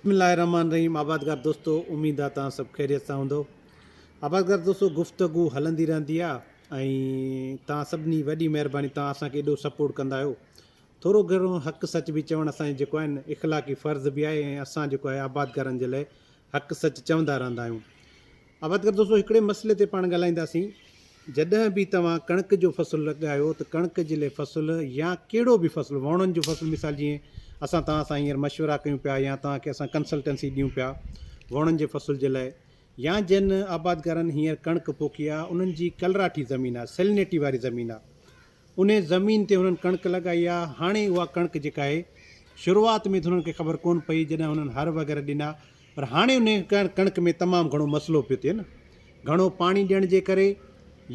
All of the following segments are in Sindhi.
بسم الله الرحمٰن الرحيم آبادگار دوستو اميد آ توهان سڀ خيريت سان هوندؤ آبادگار دوستو گفتگو هلندي رهندي آ ۽ توهان سڀني وڏي مهرباني توهان اسان کي ايڏو سپورٽ ڪندا آهيو ٿورو گهڻو حق سچ به چوڻ اسان جي جيڪو آهي نه اخلاقي فرض به آهي ۽ اسان جيڪو آهي آبادگارن جي لاء حق سچ چوندا رهندا آهيون آبادگار دوستو هڪڙي مسئلي تي پاڻ ڳالهائينداسين جڏهن به توهان ڪڻڪ جو فصل لڳايو ته ڪڻڪ جلي فصل يا ڪهڙو به فصل وهڻن جو فصل مثال جيئن اسان توهان سان هينئر مشورا ڪيون پيا يا توهان کي اسان ڪنسلٽنسي ڏيون پيا وهڻن جي فصل جي لاء يا جن آبادگارن هينئر ڪڻڪ پوکي آهي انهن جي ڪلراٺي زمين آهي سيلنيٽي واري زمين آهي انهي زمين تي هنن ڪڻڪ لڳائي آهي هاڻي اها ڪڻڪ جيڪا آهي شروعات ۾ ته هنن کي خبر ڪون پئي جڏهن هنن هر وغيره ڏنا پر هاڻي انهي ڪڻڪ ۾ تمام گهڻو مسئلو پيو ٿئي نه گهڻو پاڻي ڏيڻ جي ڪري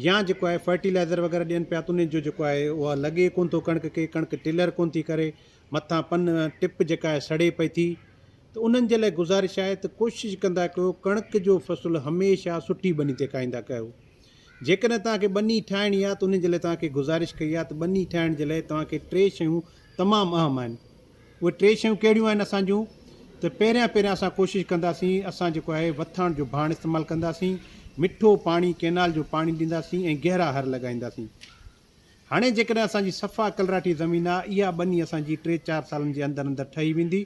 يا جيڪو آهي فرٽيلائزر وغيره ڏين پيا ته انهي جو جيڪو آهي اها لڳي ڪون ٿو ڪڻڪ کي ڪڻڪ ٽلر ڪون ٿي ڪري مٿان پن ٽپ جيڪا آهي سڙي پئي ٿي ته انهن جي لاء گذارش آهي ته ڪوشش ڪندا ڪيو ڪڻڪ جو فصل هميشه سٺي ٻني تي کائيندا ڪيو جيڪڏهن توهان کي ٻني ٺاهڻي آهي ته انهي جي لاء توهان کي گذارش ڪئي آهي ته ٻني ٺاهڻ جي لاء توهان کي ٽي شيون تمام اهم آهن اهي ٽي شيون ڪهڙيون آهن اسان جون ته پهريان پهريان اسان ڪوشش ڪنداسين اسان جيڪو آهي وٿاڻ جو ڀاڻ استعمال ڪنداسين مٺو پاڻي ڪينال جو پاڻي ڏينداسين ۽ گهرا هر لڳائينداسين هاڻي جيڪڏهن اسان جي صفا ڪلراٺي زمين آهي اها ٻني اسان جي ٽي چار سالن جي اندر اندر ٺهي ويندي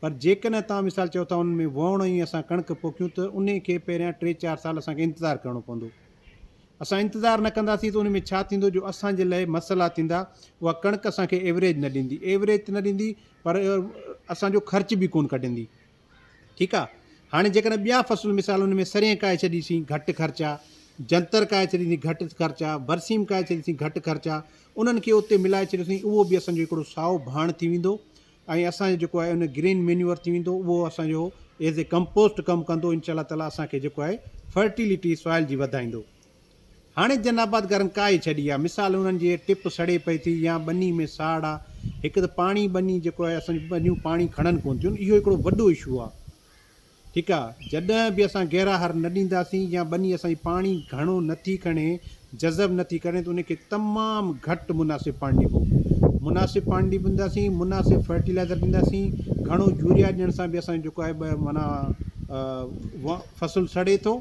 پر جيڪڏهن توهان مثال چئو ٿا ان ۾ وهڻو ۽ اسان ڪڻڪ پوکيون ته انهي کي پهريان ٽي چار سال اسان کي انتظار ڪرڻو پوندو. اسان انتظار نه ڪنداسين ته ان ۾ ڇا ٿيندو جو اسان جي لئه مسئلا ٿيندا، اها ڪڻڪ اسان کي ايوريج نه ڏيندي، ايوريج ته نه ڏيندي پر اسان جو خرچ به ڪونه ڪڍندي ٺيڪ آ، هاڻي جيڪڏهن ٻيا فصل مثال ان ۾ سرين ڪاهي ڇڏيسين گهٽ خرچ آ، جنتر ڪاهي ڇڏيسين گهٽ خرچ آ، برسيم ڪاهي ڇڏيسين گهٽ خرچ آ، انهن کي اتي ملائي ڇڏيسين اهو به اسان جو هڪڙو سائو ڀاڻ ٿي ويندو ۽ اسان جو جيڪو آهي ان گرين مينيور ٿي ويندو اهو اسان جو ايز اي ڪمپوسٽ ڪم ڪندو انشاء الله تعالي اسان کي جيڪو آهي فرٽيلٽي سوائل جي وڌائيندو هاڻي جن آبادگارن ڪاهي ڇڏي آهي مثال انهن جي ٽپ سڙي پئي ٿي يا ٻني ۾ ساڙ آهي هڪ ته پاڻي ٻني جيڪو آهي اسان جون ٻنيون پاڻي کڻن ڪون ٿيون اهو هڪڙو وڏو اشو آهي ٺيڪ آ جڏهن به اسان گهرا هر نه ڏينداسين يا ٻني اسان جي پاڻي گهڻو نه ٿي کڻي جذب نه ٿي ڪري ته ان کي تمام گهٽ مناسب پاڻي ڏبو مناسب پاڻي ڏينداسين مناسب فرٽيلائزر ڏينداسين گهڻو يوريا ڏيڻ سان به اسان جو جيڪو آهي معنيٰ فصل سڙي ٿو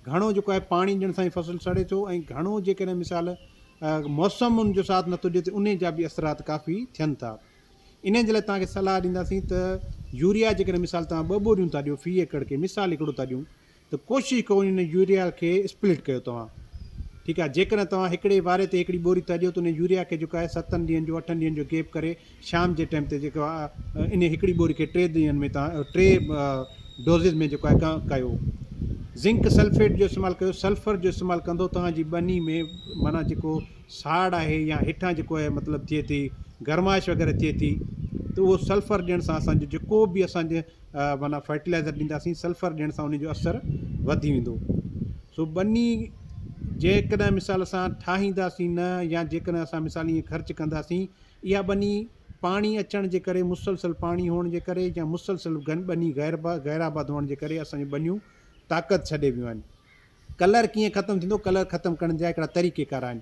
گهڻو جيڪو آهي پاڻي ڏيڻ سان فصل سڙي ٿو ۽ گهڻو جيڪڏهن مثال موسم ان جو ساٿ نٿو ڏي ته ان جا به اثرات ڪافي ٿين ٿا انهن جي لاء توهان کي صلاح ڏينداسين ته يوريا جيڪڏهن مثال توهان ٻه ٻوريون ٿا ڏيو في ايڪڙ کي مثال هڪڙو ٿا ڏيون ته ڪوشش ڪيو ان يوريا کي اسپلٽ ڪيو توهان ٺيڪ آهي جيڪڏهن توهان هڪڙي واري تي هڪڙي ٻوري ٿا ڏيو ته ان يوريا کي جيڪو آهي ستن ڏينهن جو اٺن ڏينهن جو گيپ ڪري شام جي ٽائيم تي جيڪو آهي ان هڪڙي ٻوري کي ٽي ڏينهن ۾ توهان ٽي ڊوزز ۾ جيڪو آهي ڪيو زنڪ سلفيٽ جو استعمال ڪيو سلفر جو استعمال ڪندو توهان جي ٻني ۾ معنيٰ جيڪو ساڙ آهي يا هيٺان جيڪو آهي مطلب ٿئي ٿي گرمائش وغيره ٿئي ٿي ته اهو سلفر ڏيڻ سان اسان جو جيڪو به اسان جي معنيٰ فرٽيلائزر ڏينداسين سلفر ڏيڻ سان ان جو اثر وڌي ويندو سو ٻني جيڪڏهن مثال اسان ٺاهينداسين نه يا جيڪڏهن اسان مثال ائين خرچ ڪنداسين اها ٻني پاڻي اچڻ جي ڪري مسلسل پاڻي هئڻ جي ڪري يا مسلسل ٻني غير غير آباد هئڻ جي ڪري اسان جون ٻنيون طاقت ڇڏي ويون آهن ڪلر ڪيئن ختم ٿيندو، ڪلر ختم ڪرڻ جا هڪڙا طريقي ڪار آهن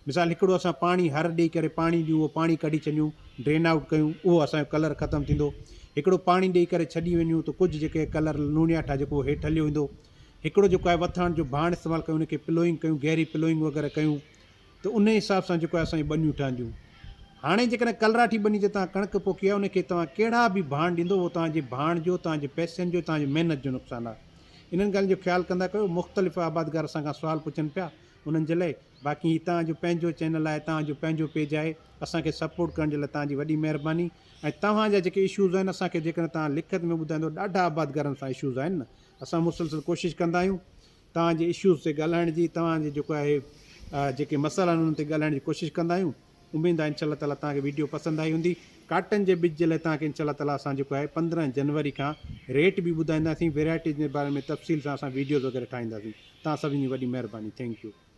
مثال هڪڙو اسان پاڻي هر ڏئي ڪري پاڻي ڏيون اهو پاڻي ڪڍي ڇڏيون ڊرين آئوٽ ڪيون اهو اسان جو ڪلر ختم ٿيندو هڪڙو پاڻي ڏئي ڪري ڇڏي وڃون ته ڪجهه جيڪي ڪلر لوڻياٺ آهي جيڪو هيٺ هليو ويندو هڪڙو جيڪو آهي وٿاڻ جو ڀاڻ استعمال ڪيون ان کي پلوئنگ ڪيون گهري پلوئنگ وغيره ڪيون ته انهيء حساب سان جيڪو آهي اسان جون ٻنيون ٺهنديون. هاڻي جيڪڏهن ڪلراٺي ٻني تي توهان ڪڻڪ پوکي آهي، ان کي توهان ڪهڙا به ڀاڻ ڏيندو، اهو توهان جي ڀاڻ جو، توهان جي پئسن جو، توهان جي محنت جو نقصان آهي. انهن ڳالهين جو خيال ڪندا ڪيو. مختلف آبادگار اسان کان سوال پڇن پيا، انهن جي لاء باقي هي توهان جو پنهنجو چينل آهي، توهان جو پنهنجو پيج آهي، اسان کي سپورٽ ڪرڻ جي لاء توهان جي وڏي مهرباني ۽ توهان جا جيڪي اشوز آهن، اسان کي جيڪڏهن توهان لکت ۾ ٻڌائيندو، ڏاڍا آبادگارن سان اشوز آهن نه، اسان مسلسل ڪوشش ڪندا آهيون. توهان جي اشوز تي ڳالهائڻ جي توهان جي جيڪو آهي جيڪي مسئلا آهن انهن تي ڳالهائڻ جي ڪوشش ڪندا آهيون اميد آهي انشاء الله تعالٰي توهان کي ويڊيو پسند آئي هوندي ڪاٽن جي ٻج جي لاء توهان کي انشاء الله تعالٰي اسان جيڪو آهي پندرهن جنوري کان ريٽ به ٻڌائينداسين ويرائٽيز جي باري ۾ تفصيل سان اسان ويڊيوز وغيره ٺاهينداسين توهان سڀني جي وڏي مهرباني ٿينڪ يو